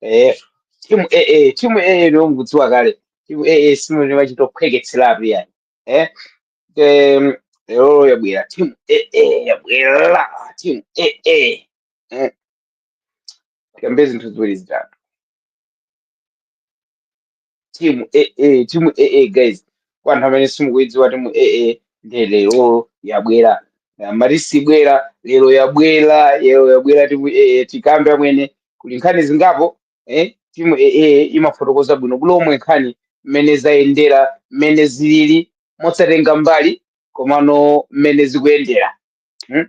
eh timu eh eh timu eh eh ndio mkudziwa kale timu eh eh simu ndio machitophweketserapo yani eh em lero yabwera timu eh eh yabwera timu eh eh eh kuyambira zinthu ziwiri zitatu timu aa timu aa guys kwa anthu amene simukuidziwa timu aa nde lero yabwera Eh, mati sibwera lero yabwera lero yabwera timu aa tikambe amwene kuli nkhani zingapo eh, timu aa imafotokoza bwino lomwe nkhani mmene zayendera mmene zilili mosatenga mbali komano mmene zikuyendera hmm?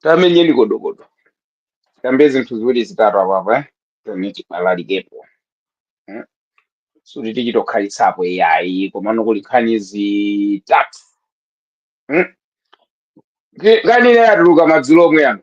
tamenyeni kodokodo tikambe zinthu ziwiri zitatu apapa eh? tene tibalalikepo eh? suti tichitokhalitsapo iyayi komano kuli nkhani zitatu hmm? Ti- nkhani ina yatuluka madzulo omwe ano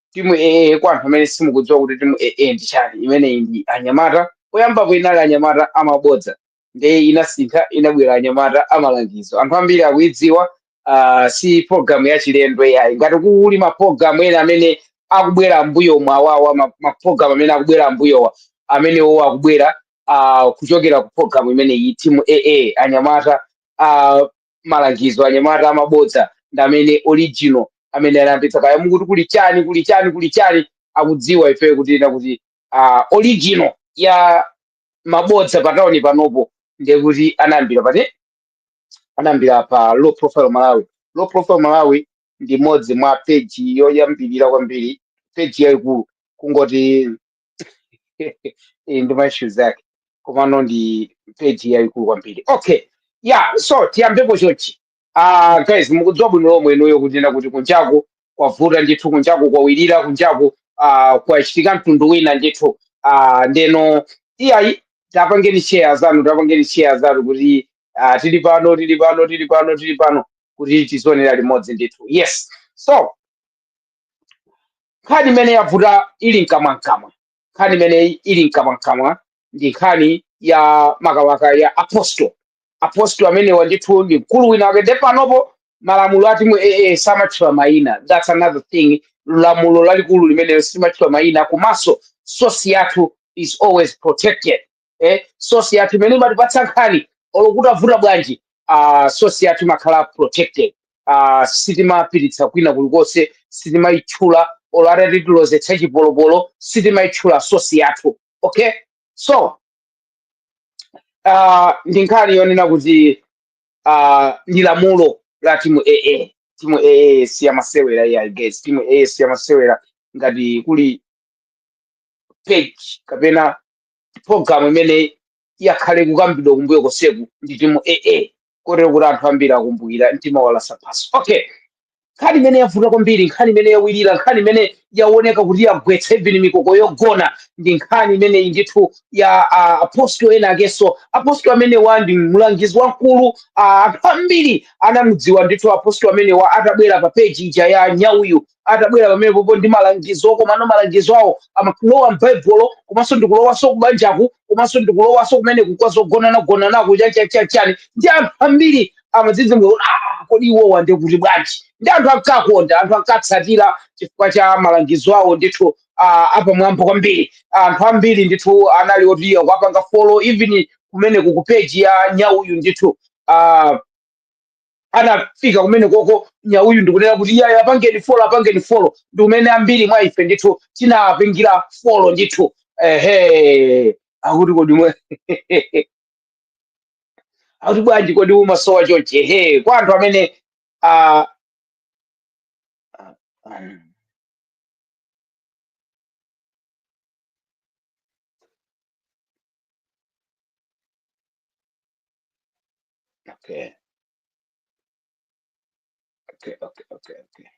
timu aa kwa anthu amene simukudziwa kuti timu aa ndi chani imeneyi ndi anyamata poyambapo inali anyamata amabodza ndiye inasintha inabwera anyamata amalangizo anthu ambiri akuidziwa uh, si programu yachilendo yayi ngati kuli mapulogalamu ena amene akubwera ambuyo mwawawa ma- mapulogalamu amene akubwera ambuyowa amenewo akubwera uh, kuchokera ku programu imeneyi timu aa anyamata uh, malangizo anyamata amabodza ndi amene original amene anayambitsa kaya mukuti kuli chani kuli chani kuli chani akudziwa ifeyo kunena kuti ah, original ya mabodza pa tauni panopo ndiye kuti anayambira pati anayambira pa low profile malawi low profile malawi ndi imodzi mwa peji yoyambirira kwambiri peji yayikulu kungoti Eh, ndi ma issues ake komano ndi page yayikulu kwambiri okay yeah so tiyambepo chonchi ah guys mukudziwa bwino lomwe inuyo kunena kuti kunjaku kwavuta ndithu kunjaku kwawirira kunjaku ah kwachitika mtundu wina ndithu ah ndeno iyayi tapangeni share zanu tapangeni share zanu kuti ah tili pano tili pano tili pano tili pano kuti tizionera limodzi ndithu yes so nkhani imene yavuta ili mkamwamkamwa nkhani imene ili mkamwamkamwa ndi nkhani ya makawaka ya apostle apostle amenewa ndithu ndi mkulu wina wake nde panopo malamulo a timu aa samatchula mayina that's another thing lamulo lalikulu limene simatchula mayina komanso sosi yathu is always protected eh, source yathu imene imatipatsa nkhani olo kutavuta bwanji uh, source yathu imakhala protected uh, sitimapititsa kwina kulikonse sitimayitchula olo atatilozetsa chipolopolo sitimayitchula source yathu okay so uh, ndi nkhani yonena kuti uh, ndi lamulo la timu aa timu aa siyamasewera iyayi guys timu aa siyamasewera ngati kuli page kapena programu imene yakhala ikukambidwa kumbuyo konseku ndi timu aa kotero kuti anthu ambiri akumbukira mtima walasa pansi okay nkhani imene yavuta kwambiri nkhani imene yawirira nkhani imene yaoneka kuti yagwetsa even mikoko yogona ndi nkhani imeneyi ndithu ya ah, apostol ena akenso apostol amenewa ndi mlangizi wamkulu ah, anthu ambiri anamudziwa ndithu apostol amenewa atabwera pa peji ija ya nyauyu atabwera pamenepopo ndi malangizo komano malangizo awo amakulowa m'baibulo komanso ndikulowanso kubanjaku komanso ndikulowanso kumeneku kwa zogonanagonanaku chanichani ndi anthu ambiri amadzidzimuka kuti "Ah, kodi iwowa ndi kuti bwanji ndi anthu ankawakonda anthu ankawatsatira chifukwa cha malangizo awo ndithu ah, apamwamba kwambiri anthu ambiri ndithu anali oti akuwapanga follow even kumeneku ku peji ya nyauyu ndithu ah, anafika kumenekoko nyauyu ndikunena kuti iyayi apangeni folo apangeni folo ndi kumene ambiri mwa ife ndithu tinapangira folo ndithu ehe akuti kodi inu akuti bwanji kodi umasowa chonche ehe kwa anthu amene ah, Okay. Okay, okay, okay, okay.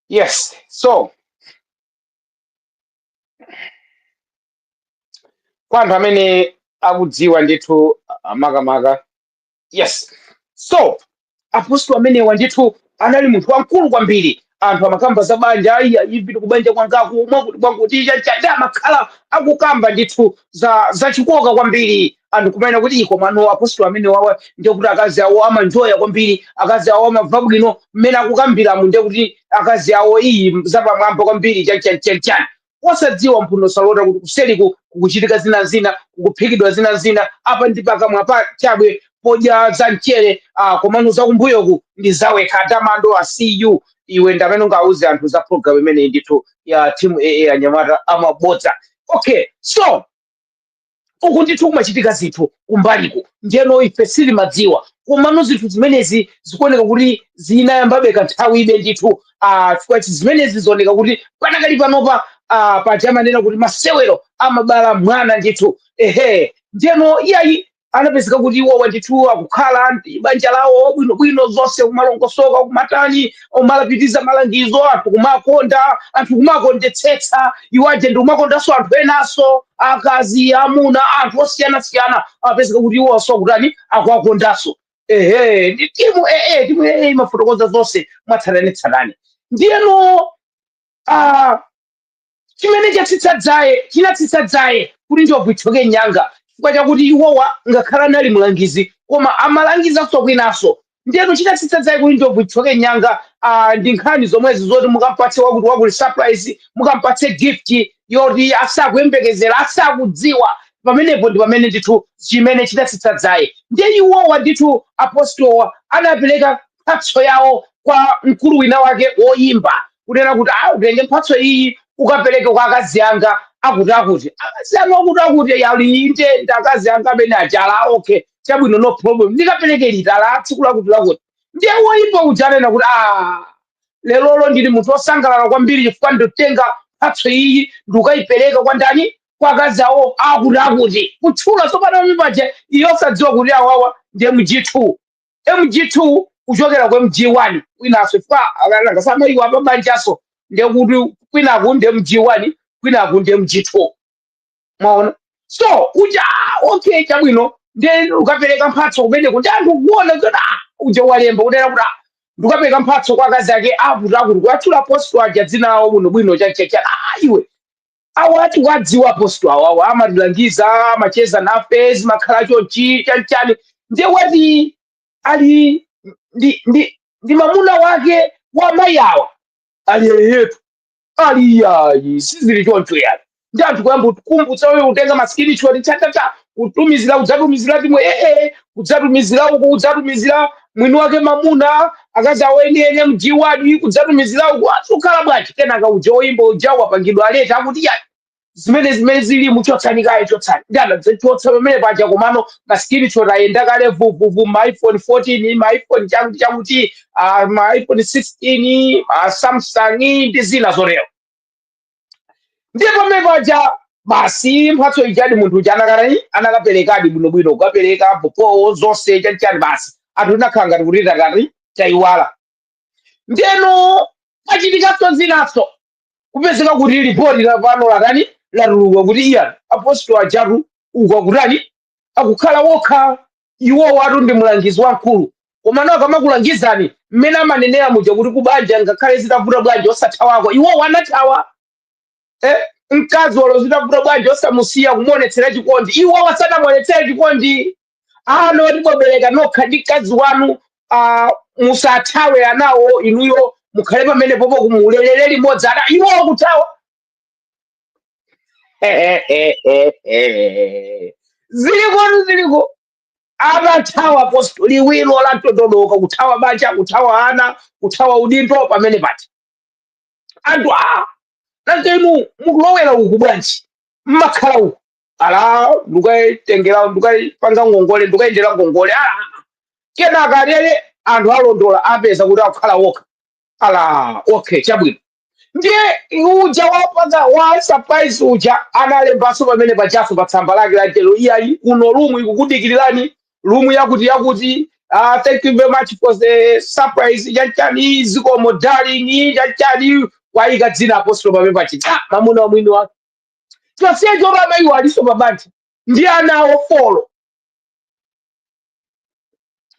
Yes, so kwa anthu amene akudziwa ndithu ah, makamaka yes so apostol amenewa ndithu anali munthu wamkulu kwambiri anthu amakamba za banja ayi ipita kubanja kwangaku mwakuti mwakuti chanichani amakhala akukamba ndithu zachikoka kwambiri anthu kumanena kuti ii komano apostol amenewawa ndiye kuti akazi awo amanjoya kwambiri akazi awo amamva bwino mmene akukambiramu ndiye kuti akazi awo ii zapamwamba kwambiri chanichanichani osadziwa mphuno salota kuti kuseriku kukuchitika zina zina kukuphikidwa zina zina apa ndi pakamwa pachabe podya za mchere ah, komano zakumbuyoku ndi za wekha tamando I see you iwe ndamene ungauze anthu za program imeneyi ndithu ya timu aa anyamata amabodza okay so uku ndithu kumachitika zinthu kumbaliku ndiyeno ife sitimadziwa komano zinthu zimenezi zikuoneka kuti zinayambabe kanthawi ibe ndithu ah, chifukwa chi- zimenezi zioneka kuti panakali panopa ah, paja amanena kuti masewero amabala mwana ndithu ehe ndiyeno iyayi anapezeka kuti iwowa ndithu akukhala ndi banja lawo bwinobwino zonse kumalongosoka kumatani kumapitiriza malangizo anthu kumawakonda anthu kumawakondetsetsa iwo aja ndi kumakondanso anthu enanso akazi amuna anthu osiyanasiyana amapezeka kuti iwo onse akutani akuwakondanso ehe ndi timu aa timu aa imafotokoza zonse mwatsatanetsatane ndiyeno ah, Chimene chatsitsa dzaye, chinatsitsa dzaye kuti njobvu ithyoke nyanga chifukwa chakuti iwowa ngakhale anali mlangizi koma amalangizanso kwinanso ndiyeno chinatsitsa dzaye kuti njobvu ithyoke nyanga aah ndi nkhani zomwezi zoti mukampatse wakuti wakuti surprise mukampatse gift yoti asakuyembekezera asakudziwa pamenepo ndi pamene ndithu chimene chinatsitsa dzaye ndiye iwowa ndithu apostolowa anapereka mphatso yawo kwa mkulu wina wake woyimba kunena kuti a utenge mphatso iyi ukapereke kwa akazi anga akuti akuti akazi anga akuti akuti ya inde akazi anga amene ajala okay chabwino no problem ndikapereke liti a tsiku lakuti lakuti ndiye woyimba uja ananena kuti a lerolo ndili munthu wosangalala kwambiri chifukwa nditenga mphatso iyi ndikukayipereka kwa ndani kwa akazi awo akuti akuti kutchula tsopano mpaja iye osadziwa kuti awawa ndi mgtu mg2 kuchokera ku mg1 kwinaso chifukwa akanangosamaiwo apabanjaso ndiye kuti kwinaku ndi mg1 kwinaku ndi mg2 mwaona so uja ah, okay chabwino ndiye kukapereka mphatso kumeneko ndiye anthu kuona kuti ah, uja walemba kunena kuti ah, ndikukapereka mphatso kwa akazi ake akuti akuti kuatchula apostolo aja dzina lawo bwinobwino chachacha ah, iwe awa tikuwadziwa apostolo awawa amatilangiza amacheza nafe zimakhala chonchi chanichani ndiye ati ali ndi ndi ndi mamuna wake wa mayi awa ali eyetu ali yayi sizili choncho yani ndiye anthu kuyamba kukumbutsa eee kutenga ma screenshot chatata kutumizira kudzatumizira timwe ee kudzatumizira uku kudzatumizira mwini wake mamuna akazi awo enieni mg 1 kudzatumizira uku zikukhala bwanji kenaka uja oyimba uja wapangidwa alert akuti ya zimene zimene zili muchotsani kaye chotsani ndiye anadzachotsa pamene paja komano ma screenshot ayenda kale vuvuvu ma iphone 14 ma iphone chakuti chakuti ah, ma iphone 16 ma samsung ndi zina zotero ndiye pamene paja basi mphatso ijadi munthu uja anakatani anakaperekadi bwinobwino kukapereka bobo zonse chanichani basi anthu tinakhala ngati kuti tatani tayiwala ndeno pachitikanso zinanso kupezeka kuti lipoti la pano latani latuluka kuti iyayi apostolo ajatu uku akutani akukhala okha iwowatu ndi mlangizi wamkulu komano akamakulangizani mmene amanenera muja kuti kubanja ngakhale zitavuta bwanji osathawako iwowa anathawa eh? mkazi olo zitavuta bwanji osamusiya kumuonetsera chikondi iwowa sanamuonetsere chikondi ana oti mwabereka nokha ndi mkazi wanu ah, musathawe anawo inuyo mukhale pamenepopo kumalerera limodzi ana iwowa kuthawa ziliko ziliko amathawa apostolo liwiro la mtondo wadooka kuthawa banja kuthawa ana kuthawa udindo pamene pati anthu a nanga inu mukulowera uku bwanji mmakhala uku ala ndukayitengera ndukayipanga ngongole ndukayendera ngongole ala kenaka lero anthu alondola apeza kuti akukhala okha ala okay chabwino ndiye uja wapanga wa surprise uja analembanso pamene pajaso pa tsamba lake la mchezo iyayi kuno lumu ikukudikirirani lumu yakuti yakuti uh, thank you very much for the surprise chanichani zikomo darling chanichani wayika dzina apostolo pamene pachita mamuna wamwini wake chonsecho amayiwo aliso pabanja ndi ana awo folo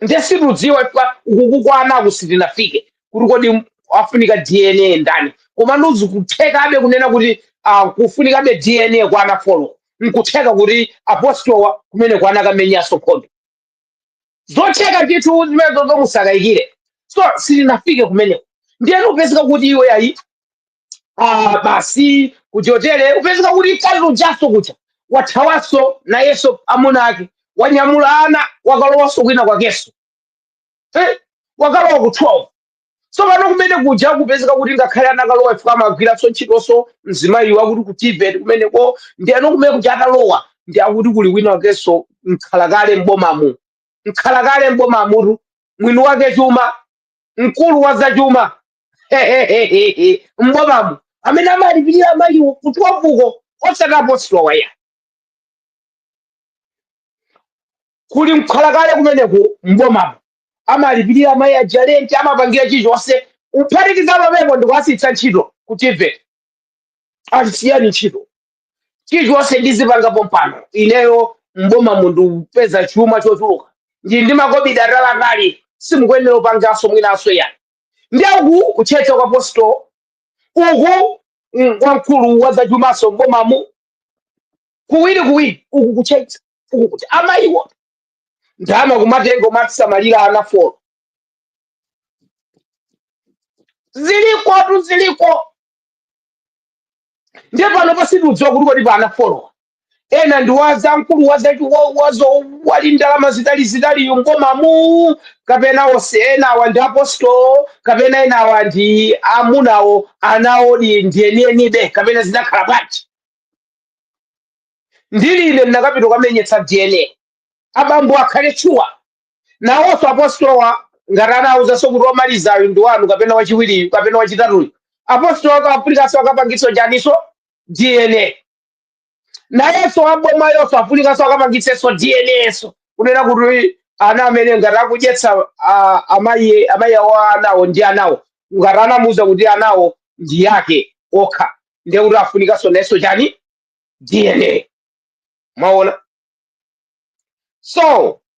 nde sitikudziwa uku kwa anaku sitinafike kuti kodi afunika dna ndani komano zikuthekabe kunena kuti uh, kufunikabe dna kwa ana folo nkutheka kuti apostolo kumeneko anakamenyanso nkhondo zotheka ndithu zimenezo musakayikire so sitinafike kumeneko ndiyeno kupezeka kuti iwe ayi ah, basi kuti chotere kupezeka kuti mkazi ujaso kuja wathawaso nayeso amuna ake wanyamula ana wakalowaso kwina kwakeso eh? wakalowa ku 12 so pano kumene kuja kupezeka kuti ngakhale anakalowa ifika amagwiranso ntchitonso mzimayi wakuti ku tevet kumeneko ndiyeno kumene kuja atalowa ndiye akuti kuli wina wakenso mkhalakale m'bomamu mkhalakale m'bomamutu mwini wake chuma mkulu wa zachuma m'bomamo amene amalipirira amayiwo ku 12 uko osati apostolowa ayi kuli mkhalakale kumeneku m'bomamo amalipirira mayi aja lenti amapangira chilichonse kuphatikiza pamenepo ndikuasiyitsa ntchito ku tevet siyani ntchito chilichonse ndizipanga pompano ineyo m'bomamu ndipeza chuma chochuluka ndi makobidi ataliatali simukuyenera kupanganso mwinanso yani ndi uku kutchetcha kwa apostolo uku mm, kwa mkulu wa zachumaso m'bomamu kuwiri kuwiri uku kutchetcha uku kuti amayiwo ndama kumatenga kumasamalira ana folo zilikotu ziliko ndiye panopa sitikudziwa kuti kodi pa ana folowa ena ndi waza mkulu waza wa- wazo wali ndalama zitalizitali m'bomamu kapena onse enawa ndi apostolo kapena enawa ndi amuna awo ana awodi ndi enienibe kapena zinakhala bwanji ndili ine ndinakapita kukamenyetsa dna abambo akhale sure nawonso apostolowa ngati anawuzanso kuti womalizayo ndi wanu kapena wachiwiriyu kapena wachitatuyu apostolo akafunikanso akapangitso chaniso dna nayenso abomayonso afunikanso akapangitsenso dna so kunena kuti ana amene ngati akudyetsa ah, amayi amayi awo anawo ndi anawo ngati anamuwuza kuti anawo ndi yake okha ndiye kuti afunikanso nayenso chani dna mwaona so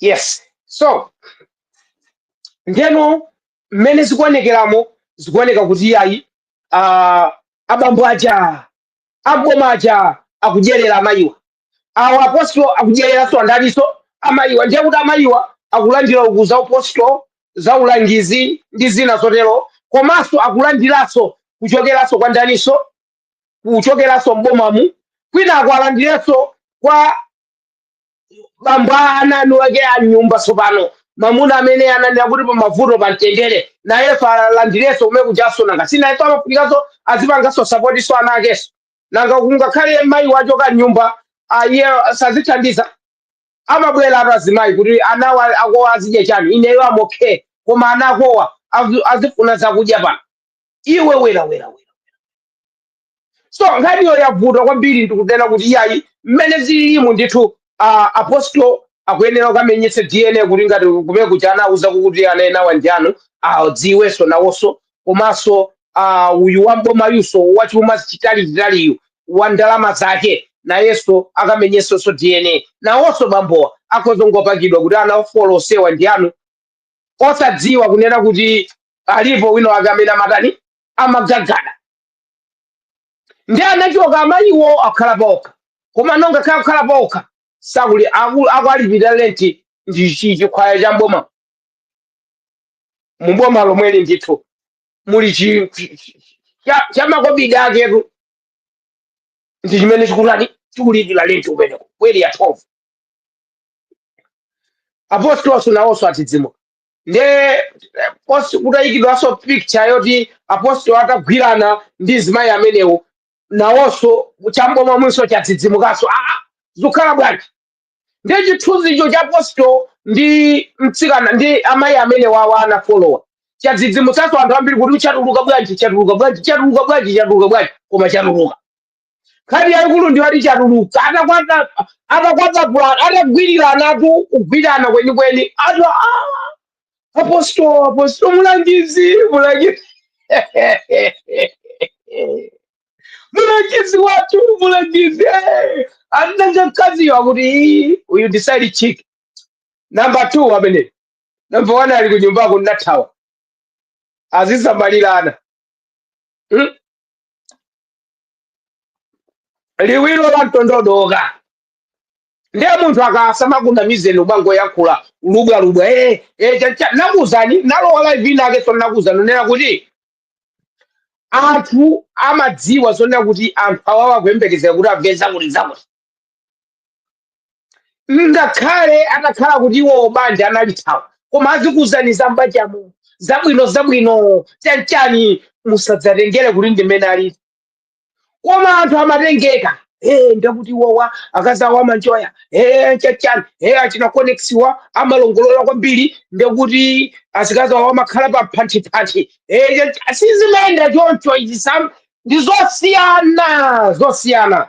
yes so ndeno mmene zikuonekeramo zikuoneka kuti iyayi uh, abambo aja aboma aja akudyerera amayiwa awa apostolo akudyereranso andaniso amayiwa ndiye kuti amayiwa akulandira uku za upostolo za ulangizi ndi zina zotero komanso akulandiranso kuchokeranso kwa ndaniso kuchokeranso mbomamu kwinako alandirenso kwa bambo a ana eni ake a nyumba tsopano mamuna amene ananena kuti pamavuto pamtendere nayenso alandirenso kumene kujanso nanga sinayenso amafunikanso azipanganso sapotiso ana akenso nanga kungakhale mayi wachoka nyumba iye sazithandiza amabweratu azimayi kuti anawa akowa azidya chani ineyo amokhe koma ana akowa azi- azifuna zakudya pano iwe bwera bwera bwera so nkhaniyo yavuta kwambiri ndikunena kuti iyayi mmene zililimu ndithu uh, apostol akuyenera kukamenyetsa dna kuti ngati kumene kuja anauza kuti ana enawa ndi anu adziwenso nawonso komanso uh, uyu wambomayuso wachuma chitalichitaliyu wa ndalama zake nayenso akamenyetsenso dna nawonso bambowa akhozongopakidwa kuti ana folo onsewa ndi anu osadziwa kunena kuti alipo wina wake amene amatani amagagada ndiye anachoka amayiwo akhala paokha koma nongakhale akukhala paokha sakuli aku- akuwalipira lenti ndi chi- chikhwaya cha mboma muboma lomweli ndithu muli chi- chi- chi- cha- cha makobidi aketu ndi chimene chikutani chikulipira lenti kumeneko ku area 12 apostoloso nawonso adzidzimuka nde eh, posi kutayikidwanso picture yoti apostolo atagwirana ndi azimayi amenewo nawonso chamboma mwinanso chadzidzimukanso aa zikukhala bwanji ndiye chithunzicho cha apostolo ndi mtsikana ndi amayi amenewa a ana folowa chadzidzimutsanso anthu ambiri kuti chatuluka bwanji chatuluka bwanji chatuluka bwanji chatuluka bwanji koma chatuluka nkhani yaikulu ndi yoti chatuluka atakwata- atakwatapulana atagwiriranatu kugwirana kwenikweni atu "Ah, apostolo apostolo mulangizi mulangizi mulangizi wathu mulangizi eh." ananga mkaziyo akuti "Ii, uyu ndi side chick namba two amene namba one ali kunyumbako nathawa azisamalirana Hmm? liwiro la mtondodoka ndiye munthu akasamakunamizeni kumangoyankhula lubwalubwa eh, eh, cha- cha- ndakuuzani nalowa live inake so ndakuuzani kunena kuti anthu amadziwa zonena kuti anthu awawa kuyembekezera kuti amve zakuti zakuti ngakhale atakhala kuti iwowo banja analithawa koma azikuwuzani za mbanjamo zabwino zabwino chanichani musadzatengere kuti ndimene alili koma anthu amatengeka Eh, ndekuti iwowa akazawa amanjoya Eh, chanichani Eh, achina koneksiwa amalongolola kwambiri ndekuti azikazawo amakhala pa phanthiphanthi Eh, chacha- sizimayenda choncho izi sam ndi zosiyana zosiyana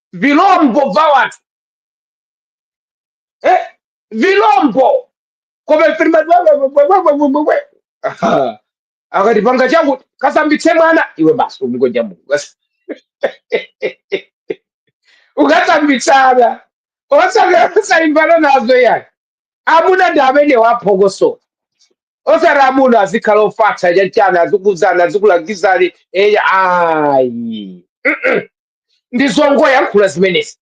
vilombo va watu eh, vilombo kome filima wewewewewewewe Aha. akatipanga changu kasambitse mwana iwe basi umgonja mungu Basi. ukasambitsana osaimbana nazo yani amuna ndi amene waphokoso osati amuna azikhala ofatsa chanchana azikuzana azikulangizani eya ayi ndi zongoyankhula zimenezi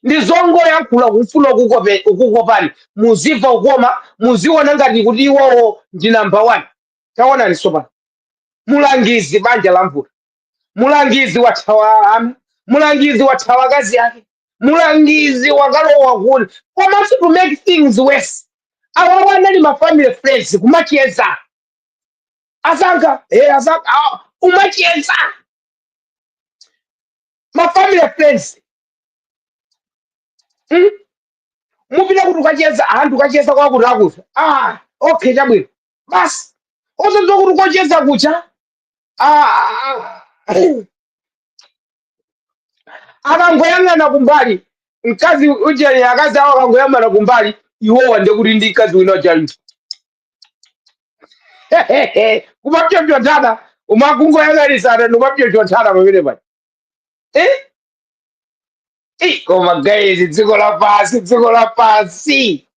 ndi zongoyankhula kufuna ukukope- ukukopani muzimva kukoma muziona ngati kuti iwowo ndi namba 1 taonani sopano mulangizi banja lavuta mulangizi wathawa ana mulangizi wathawa akazi ake mulangizi wakalowa kuli komanso to make things worse awawa anali mafamily friends kumacheza azanga eh, azanga ah, kumacheza mafamily friends mm? mupita kuti kukacheza anthu kukacheza kwakuti akuti ah okay chabwino basi osadziwa kuti kocheza kucha ah, ah, ah. akangoyang'ana kumbali mkazi ujeni akazi awo akangoyang'ana kumbali iwowa ndekuti ndi mkazi wina uja kumapyopyonthana akangoyang'anizana nkumapyopyonthana pamene pati eh? Eh, koma guys dziko lapansi dziko lapansi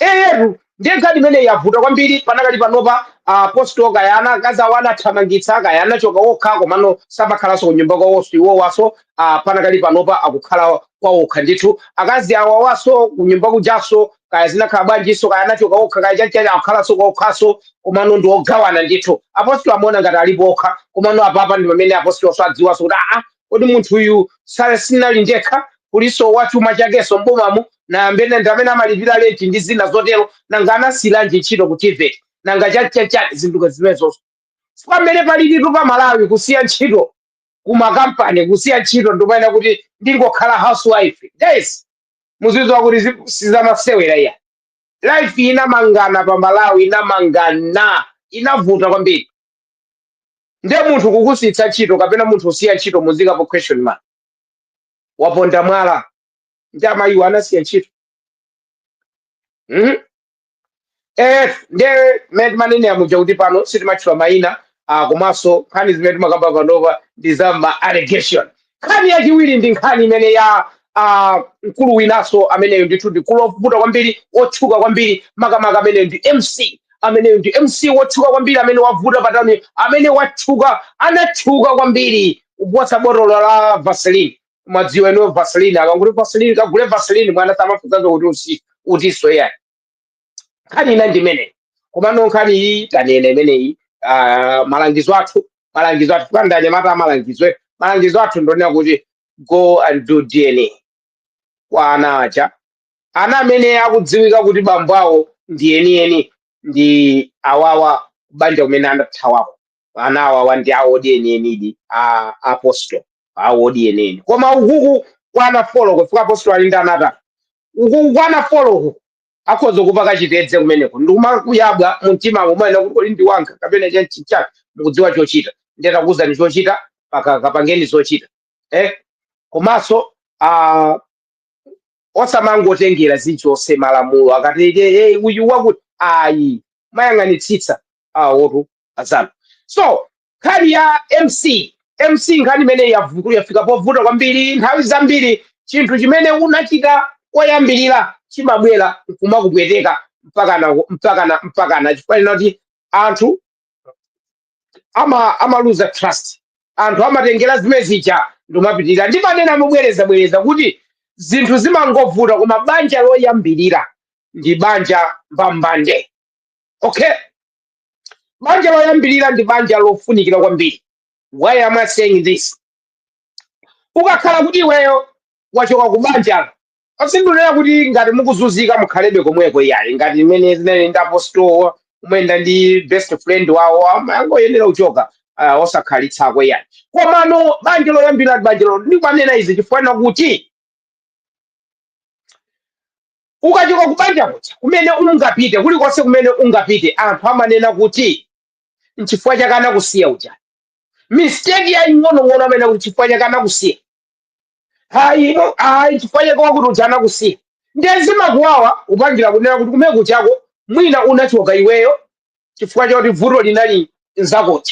eyetu ndiye nkhani imene yavuta kwambiri panakali panopa apostolo kaya akazi awo anathamangitsa kaya anachoka okha komano samakhalanso kunyumba kwawonso iwowaso ah, panakali panopa akukhala kwawokha ndithu akazi awawaso kunyumba kujaso kaya zinakhala bwanjinso kaya anachoka okha kaya chanchani akukhalanso kwaokhaso komano ndi ogawana ndithu apostolo amaona ngati alipo okha komano apapa ndi pamene apostolo sadziwanso kuti aa kodi munthu uyu sale sinali ndekha kulinso wa chuma chakenso mbomamo ndi amene ndi amene amalipira lenti ndi zina zotero nanga anasiyiranji ntchito ku tvet nanga chanchachani zinthu zimenezozo pamene palilitu pa malawi kusiya ntchito kumakampani kusiya ntchito ndikumanena kuti ndingokhala housewife guys muzidziwa kuti zi- sizamasewera iya life inamangana pa malawi inamangana inavuta kwambiri nde munthu kukusitsa ntchito kapena munthu kusiya ntchito muzikapo question mark waponda mwala ndi amayiwo anasiya ntchito mm? eh ndiye mmene timanenera muja kuti pano sitimatchula mayina ah, komanso nkhani zimene timakamba panova ndi za ma allegation nkhani yachiwiri ndi nkhani imene ya ah, mkulu winaso ameneyo ndithu ndi mkulu wovuta kwambiri wotchuka kwambiri makamaka ameneyo ndi mc ameneyo ndi mc wotchuka kwambiri amene wavuta patani amene watchuka anatchuka kwambiri kuposa botolo la vaseline mumadziwa inu vaseline akangoti vaseline kagule vaseline mwana samafunsaso kuti usi utiso yani nkhani ina ndi imeneyi komano nkhani iyi tanena imeneyi ah, malangizo athu malangizo athu kwa anyamata amalangizo malangizo athu ndonena kuti go and do dna kwa ana aja ana amene akudziwika kuti bambo awo ndi enieni ndi awawa kubanja kumene anathawako ana awawa ndi awodi enienidi a apostolo awodi enieni koma ukuku kwana folo kufika apostolo ali ndi ana atatu ukuku kwana folo uku akhoza kupaka chitedze kumeneko ndikumakuyabwa mumtima umanena kuti kodi ndi wanga kapena chanchichani mukudziwa chochita ndatakuwuzani chochita paka kapangeni zochita eh komanso ah, osamangotengera zilizonse malamulo akati "Eh, eh, uyu wakuti ayi mumayang'anitsitsa awotu azanu so nkhani ya mc mc nkhani imene yavuku yafika povuta kwambiri nthawi zambiri chinthu chimene unachita koyambirira chimabwera nkumakupweteka mpakana mpakana mpakana chifukwa chonena kuti anthu ama amaluza trust anthu amatengera zimene zija nkumapitirira ndimanena mobwereza bwereza kuti zinthu zimangovuta koma banja loyambirira ndi banja mbambande okay banja loyambirira ndi banja lofunikira kwambiri why am i saying this ukakhala kuti iweyo wachoka ku banjalo aa sindikunena kuti ngati mukuzunzika mukhalebe komweko iyayi ngati mmene zinali ndi apostolo amayenda ndi best friend wawo amangoyenera kuchoka uh, osakhalitsako iyayi komano banja loyambirira ndi banja lo ndimanena izi chifukwa kuti Ukachoka kubanja kuja, kumene ungapite, kulikonse kumene ungapite, anthu amanena kuti nchifukwa chake anakusiya uja. Mistake yaing'onong'ono amanena kuti nchifukwa chake anakusiya. Hayi, ino hayi nchifukwa chake wakuti uja anakusiya. Ndiye zimakuwawa kupangira kunena kuti kumene kuchako mwina unachoka iweyo chifukwa choti vuto linali nzakoyo.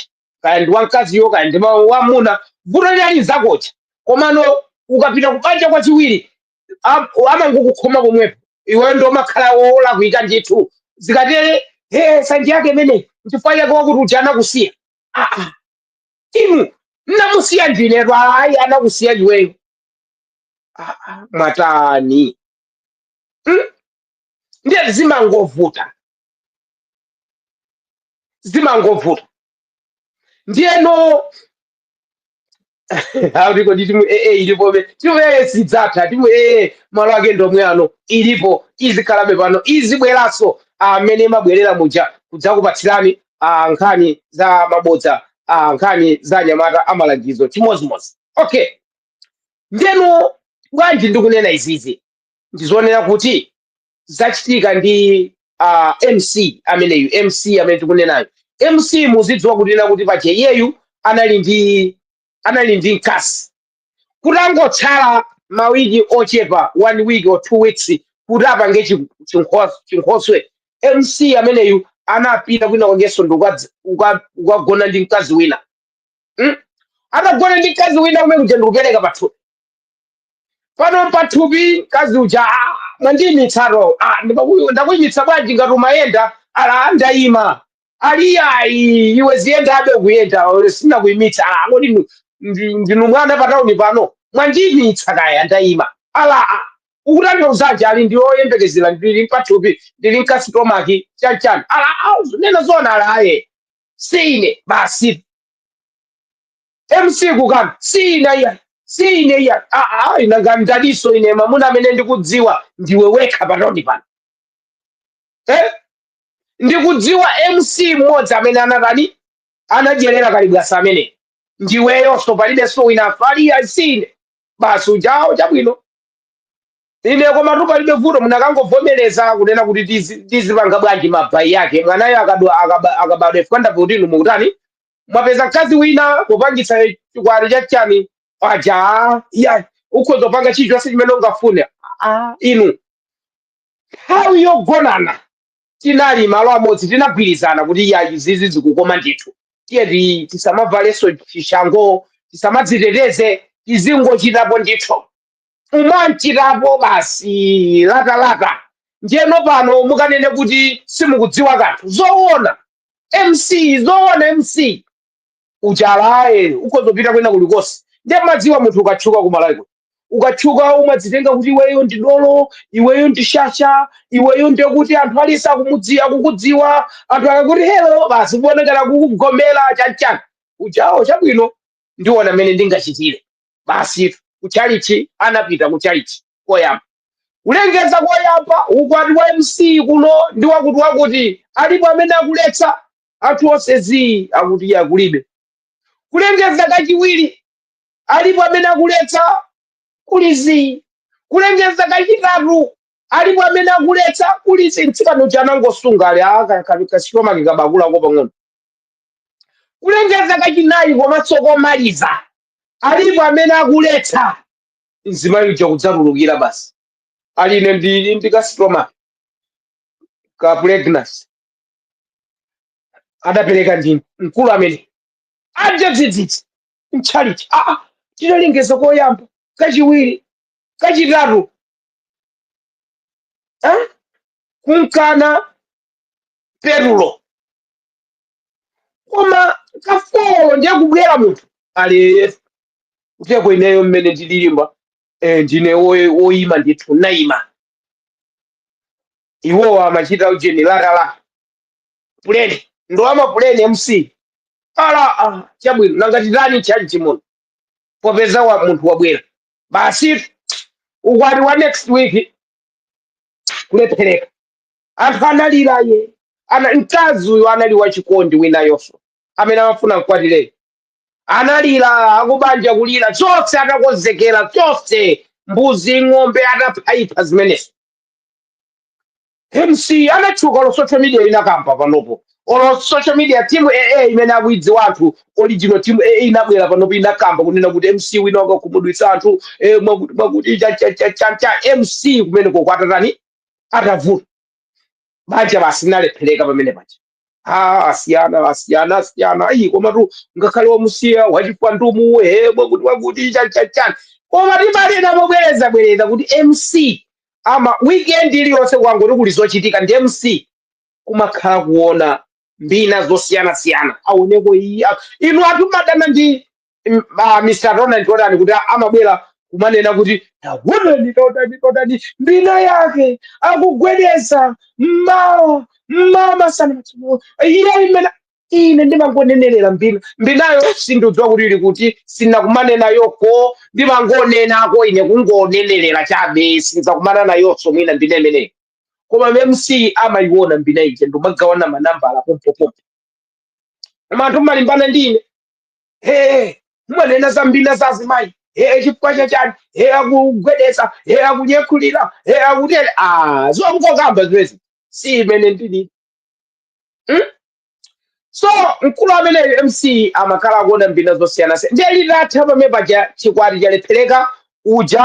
Kaya ndi wamkaziyo, kaya ndi ma- wamuna, vuto linali nzakoyo. Komano ukapita kubanja kwachiwiri, am- amangokukhoma pomwepo iweyo ndomakhala olakwika ndithu zikatere he sanje yake imene nchifukwa chake wakuti uja anakusiya Ah, ah. inu mnamusiya ndinetu ayi anakusiya iweyo Ah, ah. mwatani Mm? ndiye zimangovuta zimangovuta ndiyeno akuti kodi timu ee ilipobe timu ee sidzatha timu ee malo ake ndomwe ano ilipo izikhalabe pano izibweranso mmene imabwerera muja kudzakupatsirani ah, nkhani za mabodza ah, nkhani za anyamata amalangizo chimodzimodzi okay ndeno bwanji ndikunena izizi ndizonena kuti zachitika ndi uh, mc ameneyu mc amene tikunenayo mc muzidziwa kuti kunena kuti pache iyeyu anali ndi anali ndi mkazi kutangotsala mawiki ochepa one week or two weeks kuti apange chi- chinkho- chinkhoswe mc ameneyu anapita kwina kwakenso ndi ukadz- uka- ukagona ndi mkazi wina mm? atagona ndi mkazi wina kumene kuja ndikupereka pathu pano mpathupi mkazi uja "Ah, mwandiimitsatu Ah, ndimaku- ndakuimitsa bwanji ngati umayenda ali ndaima ali ayi iwe ziyendabe kuyenda sinakuimitse ali kodi nu- ndi- ndinu mwana patauni pano mwandiimitsa kaya ndaima ali ah, ukutanthauzanji ali ndili oyembekezera ndili mpathupi ndili mkasitomaki chanchani ali ah, nena zoona ali ayi sine basi mc kukana si ine iya si ine iya Ah, ah, ina nanga ndaninso ine mamuna amene ndikudziwa ndiwe wekha patauni pano eh? ndikudziwa mc mmodzi amene anatani anadyerera kalibwasa amene ndiweyonso palibenso wina ali ayi si ine basi ujayo chabwino ine komatu palibe vuto munakangovomereza kunena kuti tizi- tizipanga bwanji mabai yake mwanayo akadwa- akaba- akabadwa ife kapena kuti inu mukutani mwapeza mkazi wina kupangitsa chikwati cha chani paja ah, iya ukhoza kupanga chilichonse chimene ungafune ah, inu nthawi yogonana tinali malo amodzi tinagwirizana kuti iya izizi zikukoma ndithu tiye ti- tisamavalenso chishango tisamadziteteze tizingochitapo ndithu umamchitapo basi latalata njeno pano mukanene kuti simukudziwa kanthu zowona mc zoona mc uchalaye ukozopita kwina kulikonse ndiye madziwa munthu ukatchuka kumalawi kuno ukatchuka umadzitenga kuti iweyo ndi dolo iweyo ndi shasha iweyo ndiye kuti anthu aliyense akumudziwa akukudziwa anthu akakuti helo basi kuonekera kukugomera chanchani ujawo chabwino ndiona mmene ndingachitire basi kuchalichi anapita kuchalichi koyamba Kulengeza koyamba ukwati wa mc kuno ndi wakuti wakuti alipo amene akuletsa? Anthu onse zii akuti iya kulibe. Kulengeza kachiwiri alipo amene akuletsa? Kuli zii. Kulengeza kachitatu alipo amene akuletsa? Kuli zii. Mtsikana uja anangosunga ali "Ah, ka- ka- kasitoma kikabakulako pang'ono. Kulengeza kachinayi komanso komaliza alipo amene akuletsa? mzimayi uja kudzatulukira basi ali ine ndili ndi kasitoma ka pregnancy adapereka ndi mkulu amene aja dzidzidzi mtchalichi aa tinalengeza koyamba kachiwiri kachitatu eh? kunkana petulo koma kafolo ndiye kubwera munthu ali kuteko ineyo mmene ndililimba eh, ndine woy- woyima ndithu nayima iwowo amachita ujeni latala puleni ndi wamapuleni mc ala ah, chabwino nanga titani tchalichi muno popeza wa munthu wabwera basi ukwati wa next week kulephereka Anthu analira iye ana mkazi uyu anali wachikondi winayonso amene amafuna mkwatireyo analira akubanja kulira chonse atakonzekera chonse mbuzi ng'ombe ataphaipha zimenezo mc anatchuka olo social media inakamba panopo olo social media timu aa imene akuidziwa anthu original timu aa inabwera panopo inakamba kunena kuti mc wina wakakhumudwitsa anthu eh, mwakuti mwakuti cha- cha- cha- cha- cha mc kumeneko kwatatani atavuta banja basi linalephereka pamene paja Ah, asiyana asiyana asiyana ayi komatu ngakhale wamusiya wachimwa ndi umuwe mwakuti mwakuti chachachani koma timanena mobwereza bwereza kuti mc ama weekend iliyonse kwangoti kuli zochitika ndi mc kumakhala kuona mbina zosiyana siyana aoneko iya inu anthu mumadana ndi m- ma- Mr. Ronald Jordan kuti amabwera kumanena kuti taonani taonani taonani mbina yake akugwedeza mmawa mmawa masana madzulo iye imene ine ndimangonenerera mbina mbinayo sindidziwa kuti ili kuti sinakumane nayoko ndimangonenako ine kungonenerera chabe sindizakumana nayonso mwina mbina imeneyo koma mc amayiona mbina ija n'kumagawana manambala pompopompo koma anthu mumalimbana ndi ine ee mumanena za mbina za azimayi ee chifukwa chachani ee akugwedeza ee akunyekhulira ee akutere a zongokamba zimezi si imene ndili mm? so mkulu ameneyo mc amakhala akuona mbina zosiyanasiyana ndiye litatha pamene paja chikwati chalephereka uja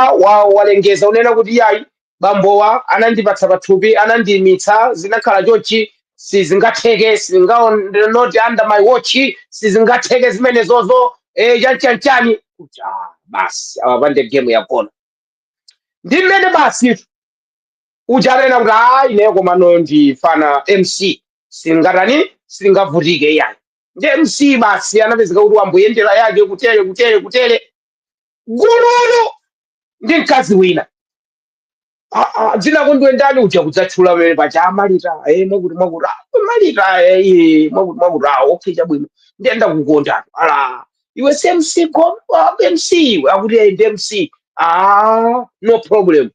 walengeza unena kuti yayi bambowa anandipatsa pathupi anandiimitsa zinakhala chonchi sizingatheke sizinga not under my watch sizingatheke zimenezozo eh, chanchanchani kuti ah, basi awapande game yakona ndi mmene basi uja anena kuti "Ah, ineyo komano ndifuna mc singatani singavutike yayi ndi mc basi anapezeka kuti wamboyendera yake kutere kutere kutere gululu ndi mkazi wina Ah, ah, dzina kuti iwe ndani uja kudzatchula pamene paja amalita eh, mwakuti mwakuti ah, amalita eh, eh, mwakuti mwakuti ah, okay chabwino ndiye ndakukondatu ala iwe si mc gom ah, mc iwe akuti eh, ndi mc ah, no problem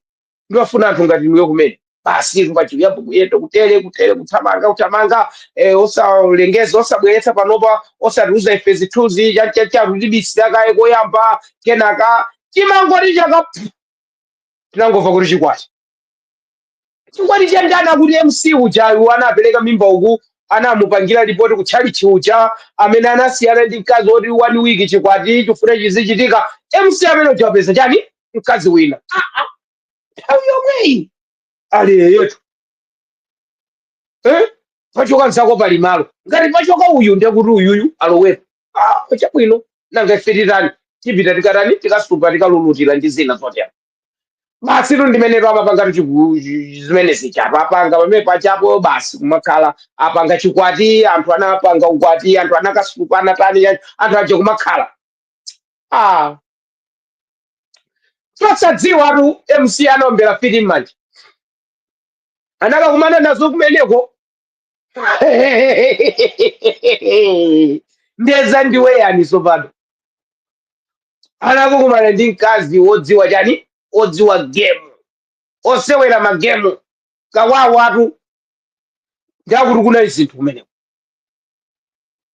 ndimafuna anthu ngati inuyo kumene basi izo pachiyambo kuyenda kutere kutere kuthamanga kuthamanga eh, osalengeza osabweretsa panopa osatiuza ife zithunzi chachacharu tibisira kaye koyamba kenaka timangoti chaka pfu, tinangomva kuti chikwati chikwati cha ndani akuti mc uja uyu anapereka mimba uku anamupangira lipoti ku tchalichi uja amene anasiyana ndi mkazi woti one week chikwati chikufuna chizichitika mc amene uja wapeza chani mkazi wina Ah, ah, nthawi yomweyi ali yeyetu eh? pachoka mzako pali malo ngati pachoka uyu ndiye kuti uyuyu alowepo ah, chabwino nanga ife titani tipita tikatani tikasupa tikalulutira ndi zina zotero basitu ndi mmenetu amapanga tuchigu zimenezi chapo apanga pamene pajapo basi kumakhala apanga chikwati anthu anapanga ukwati anthu anakasupa anatani anthu aja kumakhala ah, osadziwatu mc anaombera fiti m'manja anakakumana nazo kumeneko ndeza ndiwe yani sopano anakukumana ndi mkazi wodziwa chani wodziwa gemu osewera magemu kawawatu ndakuti kunali zinthu kumeneko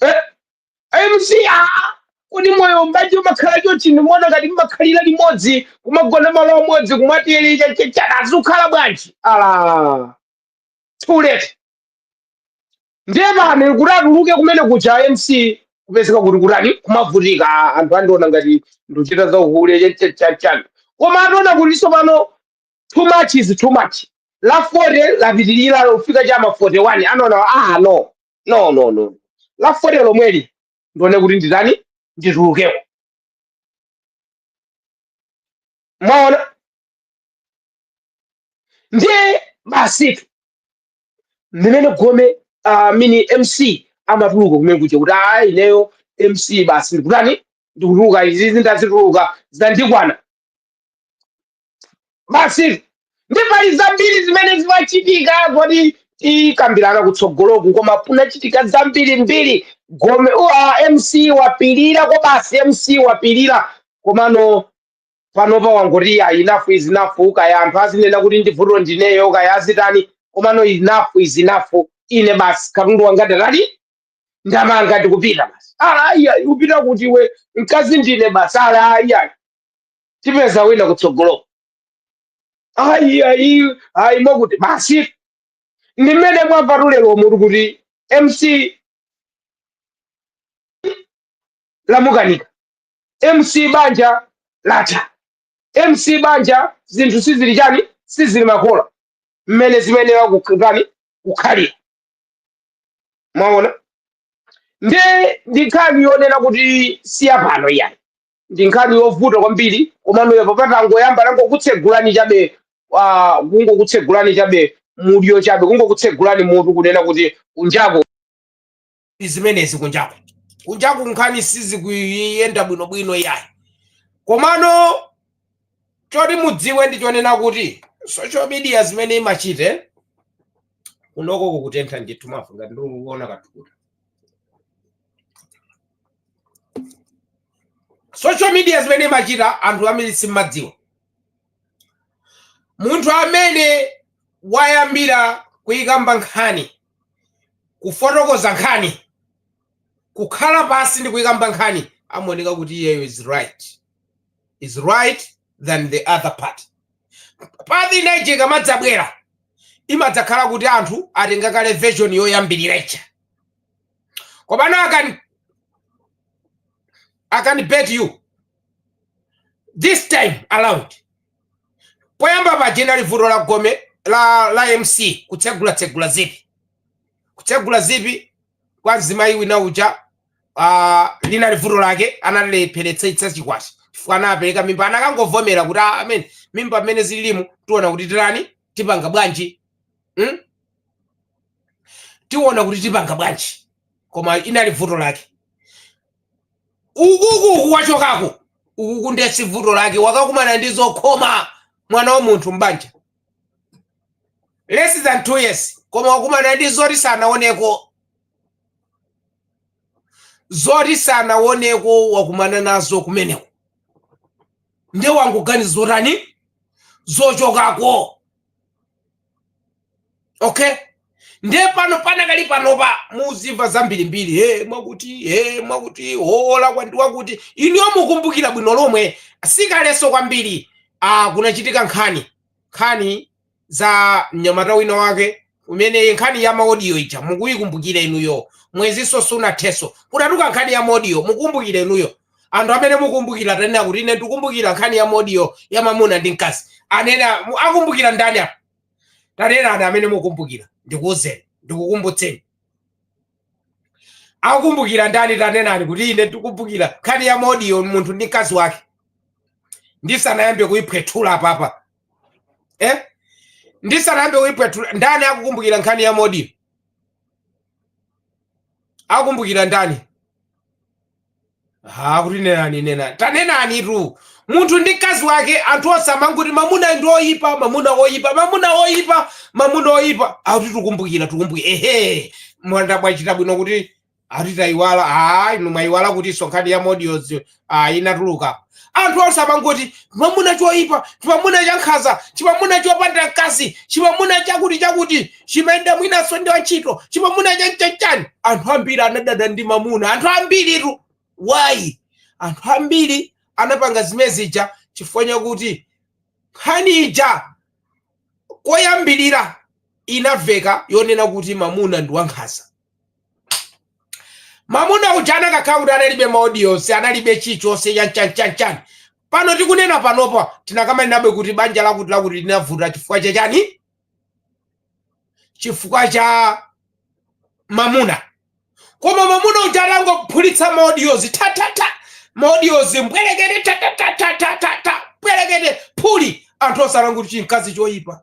Eh, eh, mc aa kodi moyo mbanje umakhala chonchi ndimaona ngati mmakhalira limodzi kumagona malo amodzi kumwa tiyi eti chachechana azikhala bwanji ala too late ndiye pano kuti atuluke kumene kuja mc kupezeka kuti kutani kumavutika Ah, anthu andiona ngati ndikuchita za uhule chachachachana koma ataona kuti tsopano too much is too much la 40 lapitirira lafika cha m'ma 41 anaona ah no no no no la fote lomweli ndione kuti nditani nditulukeko mwaona ndiye basitu mmene gome uh, mini mc amatuluka kumene kuja kuti ayi ineyo mc basi ndikutani ndikutuluka izizi ndazitulukira zandikwana basi nde pali zambiri zimene zimachitika zoti tikambirana kutsogoloku koma kunachitika zambiri mbiri gome wa mc wapirira ko basi mc wapirira komano panopa wangoti ayi enough is enough kaya anthu azinena kuti vuto ndineyo kaya azitani komano enough is enough ine basi katundu wanga ndatani ndamanga ndikupita basi ala ayi ayi upita kuti iwe mkazi ndine basi ala ayi ayi tipeza wina kutsogoloko ayi ayi ayi mwakuti basi ndi mmene mwamvatu lero mutu kuti mc lamukanika mc banja latha mc banja zinthu sizili chani sizili makola mmene zimayenera kutani kukhalira mwaona nde ndi nkhani yonena kuti siyapano iyayi ndi nkhani yovuta kwambiri komano apapa patangoyamba tangokutsegulani chabe ah, kungokutsegulani chabe mudyo chabe kungokutsegulani mutu kunena kuti kunjako ndi zimenezi kunjako kunjako nkhani sizikuyenda bwinobwino iyayi komano choti mudziwe ndi chonena kuti social media zimene imachita kunoko kukutentha ndithu mavu ngati ndikuona ka thukuta social media zimene imachita anthu ambiri simmadziwa munthu amene wayambira kuyikamba nkhani kufotokoza nkhani kukhala pansi ndi kuyikamba nkhani amaoneka kuti iyeyo is right is right than the other party party inayi ikamadzabwera imadzakhala kuti anthu atenga kale version yoyambirira ija Komano, I can, I can bet you, this time around, poyamba paja linali vuto la gome la, la MC kutsegula tsegula zipi kutsegula zipi kwa mzimayi wina uja uh, linali vuto lake analilepheretsa chikwati chifukwa anapereka mimba anakangovomera kuti ah, amene mimba mmene zililimu tiona kuti tirani tipanga bwanji hmm? tiona kuti tipanga bwanji koma inali vuto lake ukuku wachokako ukuku ndiye si vuto lake wakakumana ndi zokhoma mwana wa munthu mbanja less than two years koma wakumana ndi zoti sanaoneko zoti sanaoneko wakumana nazo kumeneko ndiye wangoganiza zotani zochokako okay ndiye pano panakali panopa muzimva zambirimbiri he mwakuti he mwakuti hola kwandi wakuti inuyo mukumbukira bwino lomwe sikalenso kwambiri ah, kunachitika nkhani nkhani za mnyamata wina wake kumene nkhani ya maodiyo ija mukuyikumbukira inuyo mwezinso sunathenso kunatuluka nkhani ya maodiyo mukumbukira inuyo anthu amene mukumbukira tanena kuti ine ndikumbukira nkhani ya maodiyo ya mamuna ndi mkazi anena mu- akumbukira ndani apa tanenani amene mukumbukira ndikuuzeni ndikukumbutseni akumbukira ndani tanenani kuti ine ndikumbukira nkhani ya maodiyo munthu ndi mkazi wake ndisanayambe kuyiphwethula apapa eh? ndisanayambe kuyiphwethula ndani akukumbukira nkhani ya maodiyo akumbukira ndani ha kuti nenani nenani tanenanitu munthu ndi mkazi wake anthu onse amangoti mamuna ndi oyipa mamuna oyipa mamuna oyipa mamuna oyipa akuti tukumbukira tukumbukira ehe mwanda mwachita bwino kuti akuti tayiwala a inu mwayiwala kuti sonkhani ya maodiyozi inatuluka anthu onse amangoti chimamuna choyipa chimamuna chankhanza chimamuna chopanda mkazi chimamuna chakuti chakuti chimayenda mwinanso ndi wantchito chimamuna chanchanichani anthu ambiri anadana ndi mamuna anthu ambiritu why anthu ambiri anapanga zimene zija chifukwa chakuti nkhani ija koyambirira inaveka yonena kuti mamuna ndi wankhanza mamuna uja anakakhala kuti analibe maodiyonse analibe chichonse chanchanchanchani pano tikunena panopa tinakamaninabe kuti banja lakuti lakuti linavutira chifukwa cha chani chifukwa cha mamuna koma mamuna uja anangophulitsa maodiyozi tatata maodiyozi mbwerekete tatatatata mbwerekete phuli anthu osalankhuti chimkazi choyipa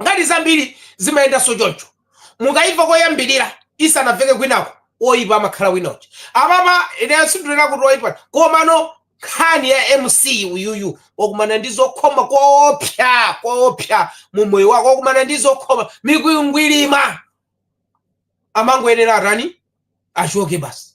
nkhani zambiri zimayendanso choncho mukaimva koyambirira isanamveke kwinako oyipa amakhala winocho apapa ine sindikunena kuti oyipa komano nkhani ya mc uyuyu wakumana ndi zokhoma koopsa koopsa mu moyo wake wakumana ndi zokhoma mikwingwirima amangoyenera atani achoke basi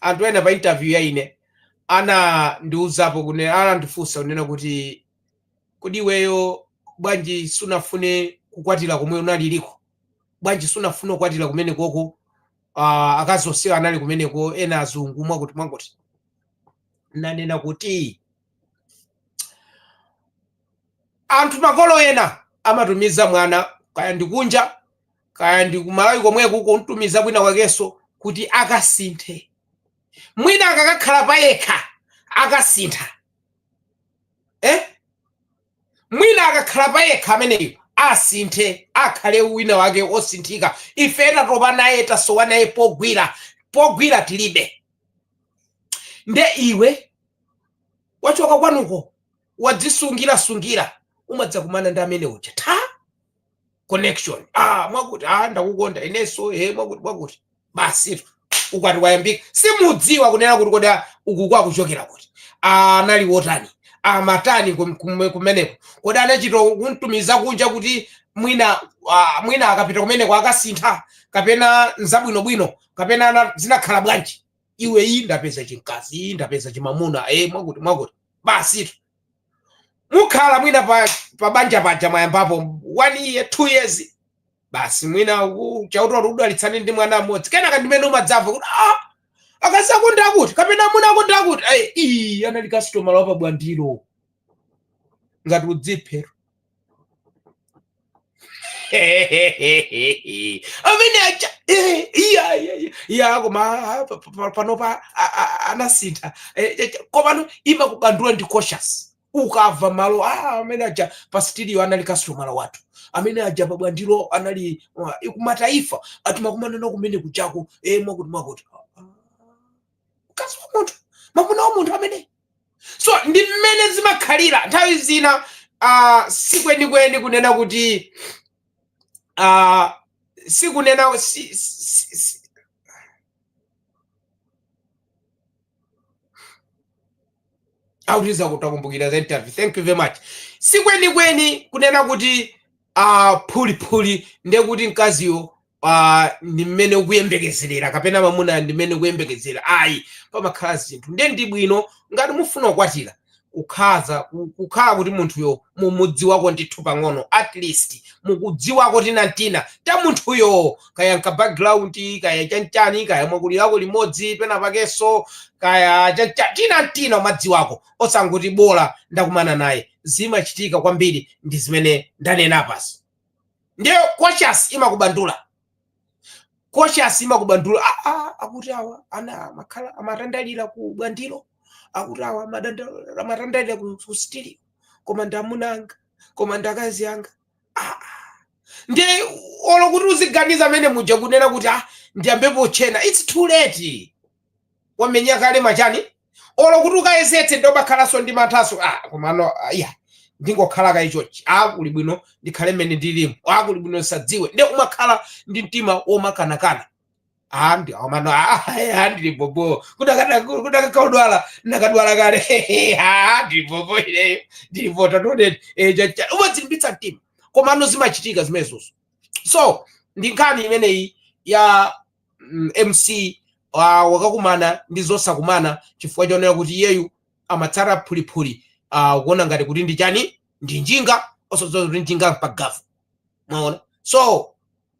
anthu ena pa interview ya ine anandiuzapo kunena anandifunsa kunena kuti kodi iweyo bwanji sunafune kukwatira komwe unaliriko bwanji sunafune kukwatira kumenekoko uh, akazi onsewa anali kumeneko ena azungu mwakuti mwakuti nanena kuti anthu makolo ena amatumiza mwana kaya ndi kunja kaya ndi ku Malawi komweko kumtumiza kwina kwakenso kuti akasinthe mwina akakhala payekha akasintha eh? mwina akakhala payekha ameneyo asinthe akhale wina wake osinthika ife tatopa naye tasowa naye pogwira pogwira tilibe nde iwe wachoka kwanuko wadzisungira sungira umadzakumana ndi amene uja tha connection ah mwakuti ah ndakukonda inenso he mwakuti mwakuti basitu ukwati wayambika simudziwa kunena kuti kodi ah, uku kwakuchokeraku kuti ah, anali wotani amatani kum- kum- kumeneko kodi anachita kumtumiza kunja kuti mwina ah, mwina akapita kumeneko akasintha kapena nzabwinobwino kapena ana- zinakhala bwanji iwe iyi ndapeza chimkazi iyi ndapeza chimamuna e mwakuti mwakuti basitu mukhala mwina pa, pa banja paja mwayambapo one year two years basi mwina u- chauta akudalitsani ndi mwana mmodzi kenaka ndimene umadzamva kuti ah, akazi ako ndi akuti kapena amuna ako ndi akuti Ai, ii anali kasitomala wapa Bwandilo ngati udziphe amene aja eh, iya iya iya iya koma ah, pa- pa- pa- panopa a- a- anasintha Eh, eh, komano imakubandula ndi conscience ukamva malo ah, amene aja pa studio anali kastomala wathu amene aja pa Bwandilo anali uh, kumataifa timakumanana kumene kujako eh, mwakuti mwakuti Ah, ah. mkazi wa munthu mwamuna wa munthu amene so ndi mmene zimakhalira nthawi zina uh, sikwenikweni kunena kuti uh, sikunena si, si, si, autiza kutakumbukira za interview thank you very much sikwenikweni kunena kuti uh, phuliphuli ndiye kuti mkaziyo ah, ndi mmene ukuyembekezerera kapena mamuna ndi mmene ukuyembekezera ayi pamakhala zinthu ndiye ndi bwino ngati mufuna kukwatira kukhaza ku- kukhala kuti munthuyo mumudziwako ndithu pang'ono at least mukudziwako tinantina ta munthuyo kaya nka background kaya chanchani kaya mwakulirako limodzi penapakenso kaya chancha- tinantina umadziwako osangoti bola ndakumana naye zimachitika kwambiri ndi zimene ndanena pansi ndiye conscience imakubandula conscience imakubandula ah, ah, akuti awa ana- amakhala amatandalira ku bwandiro akuti awa amatanda- amatandalira ku ku sitiri koma ndi amuna anga koma ndi akazi anga ah, ah. ndiye olo kuti uziganiza mmene muja kunena kuti ah, ndiyambepo kutchena its too late wamenya kale mwachani olo kuti ukayezetse ndiye umakhalanso ndi manthanso ah komano ah, iya ndingokhala kaye chonchi ah kuli bwino ndikhale mmene ndilimo ah kuli bwino ndisadziwe ndiye umakhala ndi mtima womakanakana ah komano ah ah, ndili bobo kudakada kudakakaudwala ndikadadwala kale ah ndili bobo ileyo ndili vota tonet eh chacha umadzilimbitsa mtima komano zimachitika zimenezozo so ndi nkhani imeneyi ya mm, mc ah, wakakumana ndi zosakumana chifukwa chonena kuti iyeyu amatsata phuliphuli ah, kuona ngati kuti ndi chani ndi njinga osadziwa kuti njinga mpagavu mwaona so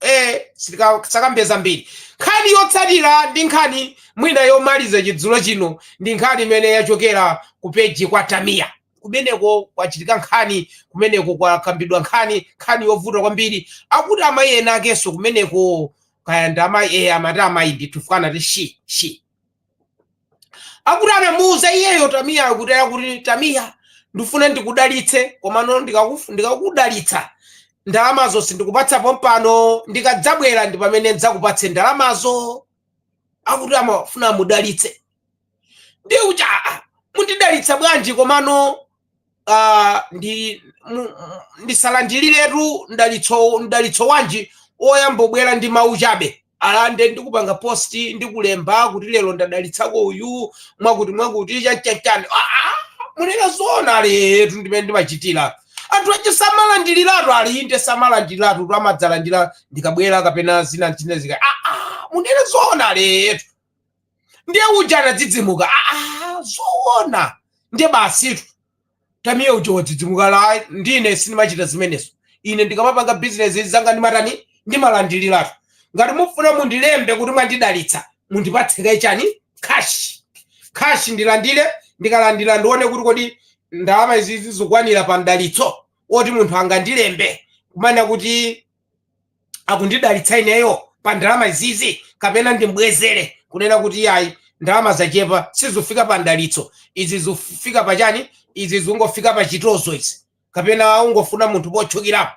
eh, sitika- tisakambe zambiri nkhani yotsatira ndi nkhani mwina yomaliza chidzulo chino ndi nkhani imene yachokera ku peji kwa tamiya kumeneko kwachitika nkhani kumeneko kwakambidwa nkhani nkhani yovuta kwambiri akuti amayi ena akenso kumeneko kaya ndi amayi eya amati amayi ndithu chifukwa anati shi shi akuti anamuuza iyeyo tamiya akuti akuti tamiya ndifuna ndikudalitse komano ndikakufu- ndikakudalitsa ndalamazo sindikupatsa pompano ndikadzabwera ndi pamene ndidzakupatse ndalamazo akuti amafuna amudalitse ndiye kuti aa mundidalitsa bwanji komano ah, ndi mu- mu- ndisalandiriretu mdalitso mdalitso wanji oyambobwera ndi mawu chabe alande ndikupanga post ndikulemba kuti lero ndadalitsako uyu mwakuti mwakuti chachachani munena zoona aletu ndi mmene ndimachitira anthu ake samalandiriratu alinde samalandiriratu amadzalandira ndikabwera kapena zina zina zika munena zoona aletu ndiye uja anadzidzimuka aa zoona ndiye basitu Tamiya uja wadzidzimuka la ndine sindimachita zimenezo ine ndikamapanga bizinesi zanga ndimatani ndimalandiliratu ngati mufuna mundilembe kuti mwandidalitsa mundipatse kaye chani kashi kashi ndilandire ndikalandira ndione kuti kodi ndalama izizi zikukwanira pa mdalitso oti munthu angandilembe kumana kuti akundidalitsa ineyo pa ndalama izizi kapena ndimbwezere kunena kuti iyayi ndalama zachepa sizifika pa mdalitso izi zifika pa chani izi zingofika pa chitozo izi kapena ungofuna munthu pochukirapo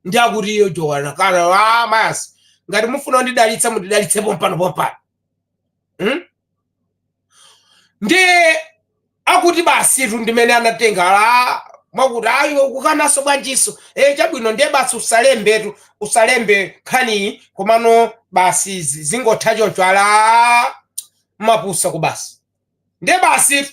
ndi akuti iyo jowana kana ah, mayasi ngati mufuna kundidalitsa mundidalitse pompano pompano hmm? ndiye akuti basitu ndimene anatenga la mwakuti ayi ukukananso bwanjiso e chabwino ndiye basi usalembetu usalembe nkhaniyi komano basi izi zingotha choncho ala mapusa ku basi nde basi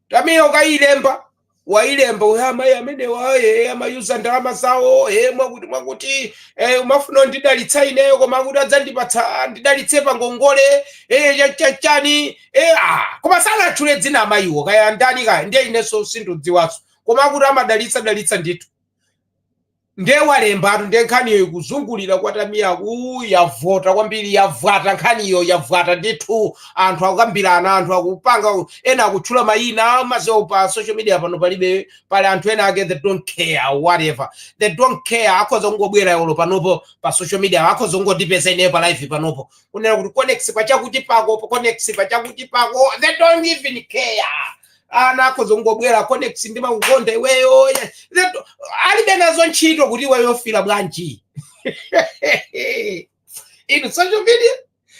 Tamiya ukayilemba wayilemba uja amayi amenewa e amamuuza ndalama zawo e mwakuti mwakuti e, umafuna ndidalitsa ineyo koma akuti adzandipatsa ndidalitse pa ngongole e, cha- cha- chani e, ah, koma sanatchule dzina amayiwo kaya ndani kaya ndiye inenso sindidziwanso koma akuti amadalitsa dalitsa ndithu nde walembatu nde nkhaniyo ikuzungulira kwa Tamiyaku yavuta kwambiri yavuta nkhaniyo yavuta ndithu anthu akukambirana anthu akupanga ena akutchula mayina mazewo pa social media pano palibe pali anthu ena ake they don't care whatever they don't care akhoza kungobwera yolo panopo pa social media akhoza kungondipeza ineyo pa live panopo kunena kuti conex pachakuti pako conex pachakuti pako they don't even care ana akhoza kungobwera conex ndimakukonda iweyo ya- Leto- alibe nazo ntchito kuti iweyo ufila bwanji inu social media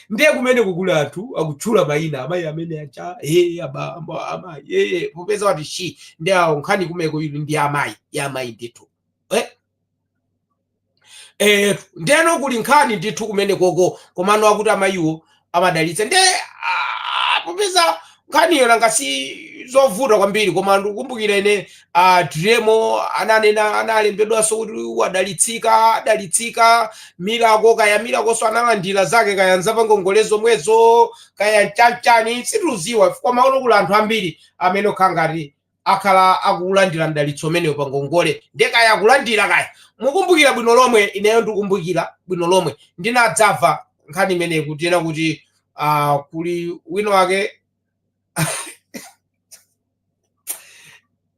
ndiye kumene kukuli anthu akutchula mayina amayi amene acha ee abambo amayi ee popeza wati shi ndi awo nkhani kumeko ili ndi amayi ya amayi ndithu Eh, eh ndeno kuli nkhani ndithu kumene koko komano akuti amayiwo amadalitsa nde ah, popeza nkhaniyo nanga si zovuta kwambiri koma ndikukumbukira ine ah, diremo ananena analembedwanso kuti wadalitsika adalitsika milako kaya milakonso analandira zake kaya nzapangongolezo zomwezo kaya nchanichani sitikudziwa koma uno kuli anthu ambiri amene okha ngati akhala akulandira mdalitso umenewo pa ngongole ndiye kaya akulandira kaya mukumbukira bwino lomwe ineyo ndikumbukira bwino lomwe ndinadzamva nkhani imeneyi kuti ena kuti uh, kuli wina wake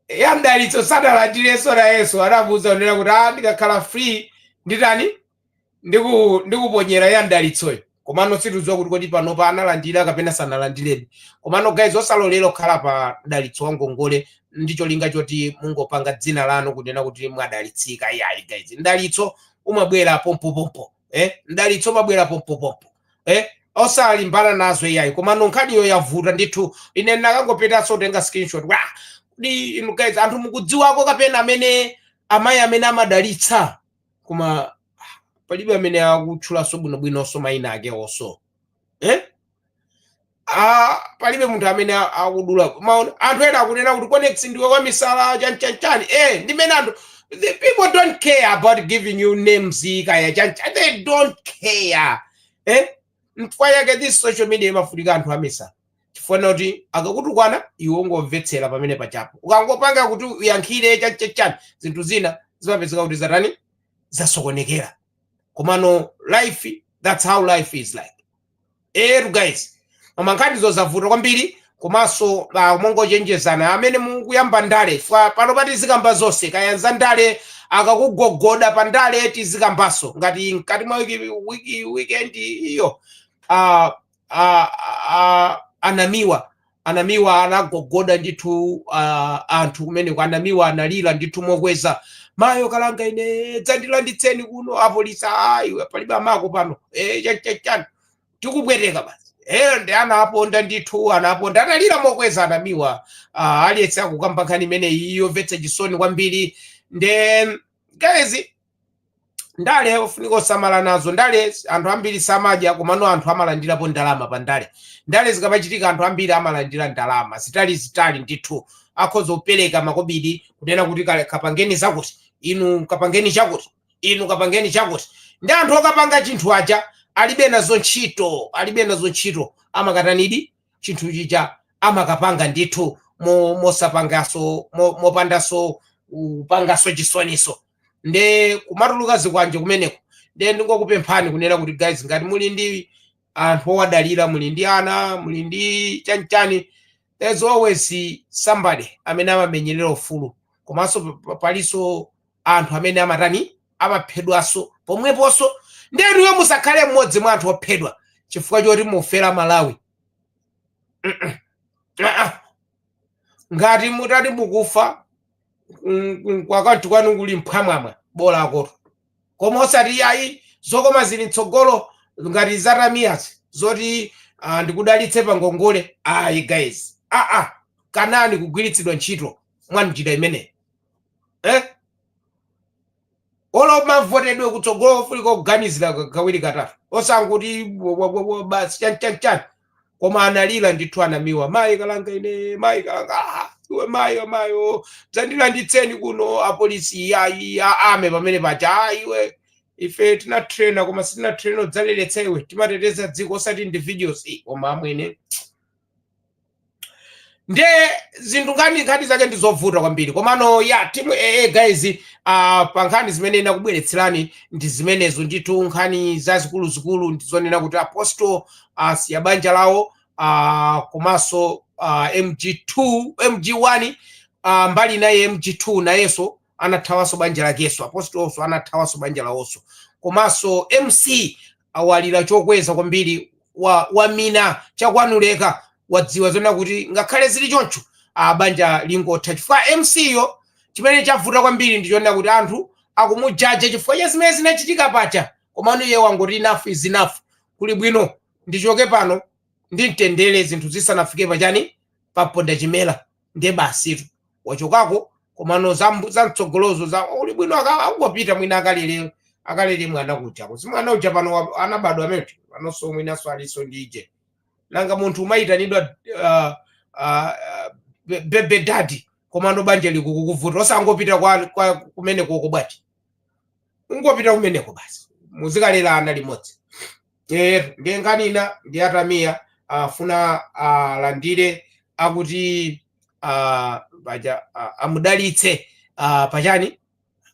ya mdalitso sadalandirenso nayenso anamuuza kunena kuti a ndikakhala free ndi tani ndiku- ndikuponyera ya mdalitsoyo komano sitidziwa kuti kodi panopa analandira kapena sanalandirebe komano guys osalolera okhala pa mdalitso wa ngongole ndi cholinga choti mungopanga dzina lanu kunena kuti mwadalitsika iyayi guys mdalitso umabwera pompopompo eh? mdalitso umabwera pompopompo eh? osalimbana nazo iyayi komano nkhaniyo yavuta ndithu ine ndinakangopetanso kutenga screenshot kodi inu guys anthu mukudziwako kapena amene amayi amene amadalitsa koma palibe amene akutchulanso bwinobwinonso mayina ake onso eh? Ah, palibe munthu amene a- akudula anthu ena akunena kuti conex ndiwe kwa misala chanchanchani eh, ndimene anthu the people don't care about giving you names kaya chanchani they don't care eh? nchifukwa chake this social media imafunika anthu amisala chifukwa kuti akakutukwana iwe ungomvetsera pamene pachapo ukangopanga kuti uyankhire chachachani zinthu zina zimapezeka kuti zatani zasokonekera komano life that's how life is like etu guys mama nkhani zozavuta kwambiri komanso ah, mongochenjezana amene mukuyamba ndale panopa tizikamba zonse kaya za ndale akakugogoda pa ndale tizikambanso ngati mkati mwa wiki, wiki, weekend iyo ah, ah, ah, a Namiwa a Namiwa anagogoda ndithu ah, anthu kumeneko a Namiwa analira ndithu mokweza mayo kalanga ine dzandilanditseni kuno apolisi iwe palibe amako pano eh, chani chani chani tikubweteka basi ndi anaponda ndithu anaponda atalira mokweza a Namiwa uh, aliyense akukamba nkhani imene iyi yomvetsa chisoni kwambiri nde guys ndale ofunika osamala nazo ndale anthu ambiri samadya komano anthu amalandirapo ndalama pa ndale ndale zikamachitika anthu ambiri amalandira ndalama zitani zitani ndithu akhoza kupereka makobidi kunena kuti kapangeni zakuti inu kapangeni chakuti inu kapangeni chakuti ndi anthu okapanga chinthu aja alibe nazo ntchito alibe nazo ntchito amakatanidi chinthu chija amakapanga ndithu mo- mosapangaso mo- mopandaso upangaso chisoniso nde kumatuluka zikwanje kumeneko nde ndingokupemphani kunena kuti guys ngati muli ndi anthu okudalirani muli ndi ana muli ndi chanichani there's always somebody amene amamenyerera ufulu komanso pa- pa- palinso anthu amene amatani amaphedwanso pomweponso nde inuyo musakhale mmodzi mwa anthu ophedwa chifukwa choti mufera Malawi Mm-mm. Ah-ah. ngati mutati mukufa mm, mm, ku account kwanu kuli mphwamwamwa bola akoto koma osati yayi zokoma zili mtsogolo ngati za Tamiyazi zoti ah, ndikudalitse pa ngongole ayi guys aa kanani kugwiritsidwa ntchito mwa njira imeneyo eh? olo mavotedwe kutsogolo ofunika kuganizira kawiri katatu osanguti basi chanchanchani koma analira ndithu anamiwa mayi kalanga ine mayi kalanga ah, iwe mayi mayo dzandilanditseni kuno apolisi yayi aame pamene paja ah, iwe ife tinatrainer koma sitinatrainer kudzaleletsa iwe timateteza dziko osati individuals koma amwene nde zinthu nkhani nkhani zake ndi zovuta kwambiri komano ya tea-mu aa guys uh, pa nkhani zimene ndinakubweretserani ndi zimenezo ndithu nkhani zazikuluzikulu ndi zonena kuti apostol uh, asiya banja lawo uh, komanso uh, mg2 mg1 uh, mbali inayi mg2 nayenso anathawanso banja lakeso apostolso anathawanso banja lawoso komanso mc awalira chokweza kwambiri wa, wamina chakanuleka wadziwa zonena kuti ngakhale zili choncho a banja lingotha chifukwa mc yo chimene chavuta kwambiri ndi chonena kuti anthu akumujaja chifukwa cha zimene zinachitika paja komano iye wangoti enough is enough kuli bwino ndichoke pano ndi mtendere zinthu zisanafike pachani pamponda chimera nde basitu wachokako komano zambu- zamtsogolozo kuli bwino aka- akungopita mwina akalele akalele mwana kuja kuti mwana uja pano wa- anabadwa amene panonso mwinanso alinso ndi ije nanga munthu umayitanidwa uh, uh, be- baby daddy komano banja likukukuvuta osangopita kwa, kwa kumene koko bwati ungopita kumeneko basi muzikalera ana limodzi eh ndiye nkhani ina ndi aTamiya afuna alandire akuti ah, paja ah, amudalitse ah, pachani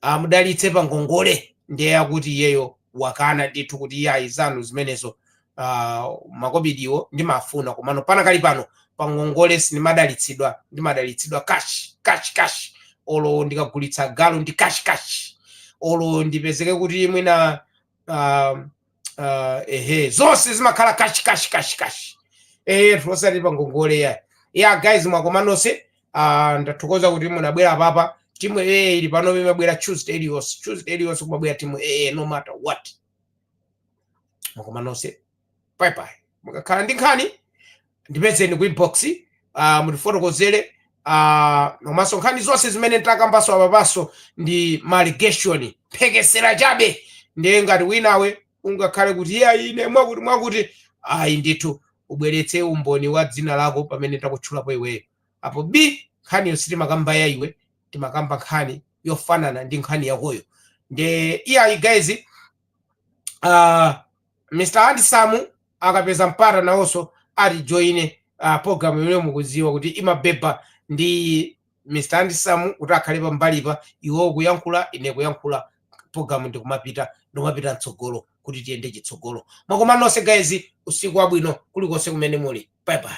amudalitse pa ngongole ndiye akuti iyeyo wakana ndithu kuti iyayi zanu zimenezo ah, makobidiwo ndimafuna komano panakali pano pa ngongole sindimadalitsidwa ndimadalitsidwa cash cash cash olo ndikagulitsa galu ndi cash cash olo ndipezeke kuti mwina ah, ah, ehe zonse zimakhala cash cash cash cash eh osati pa ngongole ya ya guys mwakoma nonse ah, ndathokoza kuti munabwera papa tea-mu aa ili pano imabwera tuesday iliyonse tuesday iliyonse kumabwera tea-mu aa no matter what mwakoma nonse bye bye mukakhala ndi nkhani ndipezeni ku inbox uh, mutifotokozere uh, komanso nkhani zonse zimene takambaso apapaso ndi ma allegation mphekesera chabe ndiye ngati winawe ungakhale kuti iyayi ine mwakuti mwakuti ayi ndithu ubweretse umboni wa dzina lako pamene takutchulapo iweyo apo bi nkhaniyo sitimakamba ya iwe timakamba nkhani yofanana ndi nkhani yakoyo nde iyayi guys uh, mr andisamu akapeza mpata nawonso atijoine uh, programu imeneyo mukuziwa kuti imabeba ndi mr andisamu kuti akhale pambalipa iwo kuyankhula ine kuyankhula programu ndikumapita ndikumapita mtsogolo kuti tiyende chitsogolo mwakoma nonse guys usiku wabwino kulikonse kumene muli bye bye